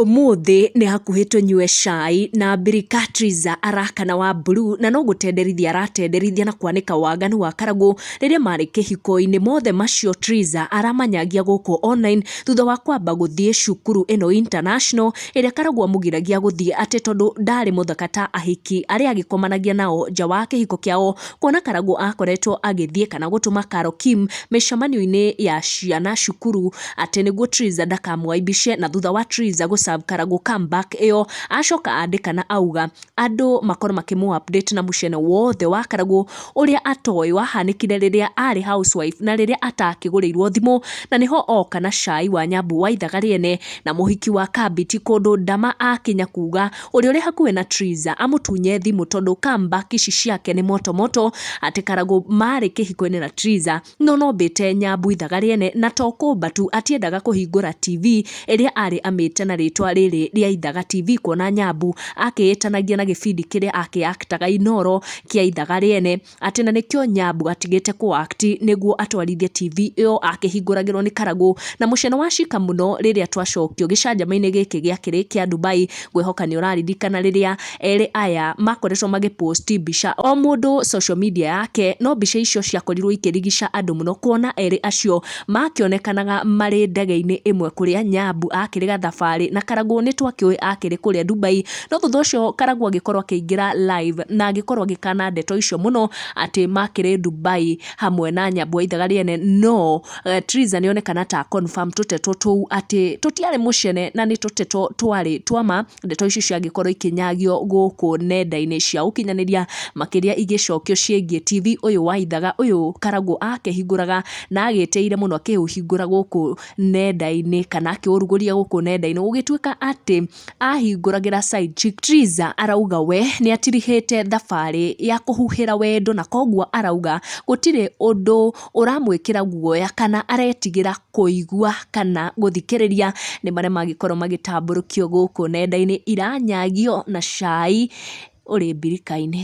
Ũmũthĩ nĩ hakuhĩ tũnyue cai na Brikatiza araka na Wamburu, na no gũtenderithia aratenderithia na kwanĩka waganu wa Karagũ rĩrĩa marĩ kĩhiko-inĩ. Mothe macio Triza aramanyagia gũkũ online thutha wa kwamba gũthiĩ cukuru ĩno international, ĩrĩa Karagũ amũgiragia gũthiĩ atĩ tondũ ndarĩ mũthaka ta ahiki arĩa agĩkomanagia nao nja wa kĩhiko kĩao. kuona Karangũ akoretwo agĩthiĩ kana gũtũma Karo Kim mĩcamanio-inĩ ya ciana cukuru atĩ nĩguo Triza ndakamũaibishe na thutha wa Triza gũ serve Karangũ come back ĩyo acoka andĩka na auga andũ makorwo makĩmũ update na mũcene wothe wa Karangũ ũrĩa atoĩ wahanĩkire rĩrĩa arĩ house wife na rĩrĩa atakĩgũrĩirwo thimũ na nĩho oka na cai wa Nyambu wa ithaga rĩene na mũhiki wa Kabiti kũndũ Ndama akinya kuga Ũrĩa ũrĩ hakuhĩ na Triza amũtunye thimũ tondũ Kamba kici ciake nĩ moto moto atĩ Karagũ maarĩ kĩhiko-inĩ na Triza no no mbĩte Nyambu ithaga rĩene na to kũmba tu atiendaga kũhingũra TV ĩrĩa arĩ amĩte na rĩtwa rĩrĩ rĩa Ithaga TV kuona Nyambu akĩĩtanagia na gĩbindi kĩrĩa akĩaktaga Inooro kĩa ithaga rĩene. atĩ na nĩkĩo nyambũ atigĩte kũ act nĩguo atwarithie TV ĩyo akĩhingũragĩrwo nĩ karagũ na mũceno wa cika mũno rĩrĩa twacokio gĩcanjama-inĩ gĩkĩ gĩakĩrĩ kĩa Dubai ngwĩhoka nĩ ũraririkana rĩrĩa erĩ aya makoretwo magĩ post mbica o mũndũ social media yake no mbica icio ciakorirwo ikĩrigica andũ mũno kuona erĩ acio makĩonekanaga marĩ ndege-inĩ ĩmwe kũrĩa nyambũ akĩrĩ gathabarĩ na karagũ nĩtwakĩũĩ akĩrĩ kũrĩa Dubai No thutha ũcio Karagũ agĩkorwo akĩingĩra live na agĩkorwo agĩkana ndeto icio mũno atĩ makĩrĩ Dubai hamwe na Nyambua ithaga rĩene no eh, Triza nĩ onekana ta confirm tũteto tũu atĩ tũtiarĩ mũcene na nĩ tũteto twarĩ twama ndeto icio ciagĩkorwo ikĩnyagio gũkũ nenda-inĩ cia ũkinyanĩria makĩria igĩcokio ciĩgiĩ TV ũyũ wa ithaga ũyũ Karagũ akĩhingũraga na agĩteire mũno akĩũhingũra gũkũ nenda-inĩ kana akĩũrugũria gũkũ nenda-inĩ gũgĩtuĩka atĩ Ahingũragĩra Said Chittiza arauga we nĩatirihĩte thabarĩ ya kũhuhĩra wendo na koguo arauga gũtirĩ ũndũ ũramwĩkĩra guoya kana aretigĩra kũigua kana gũthikĩrĩria nĩ marĩa mangĩkorwo magĩtambũrũkio gũkũ nenda-inĩ iranyagio na cai ũrĩ mbirika-inĩ.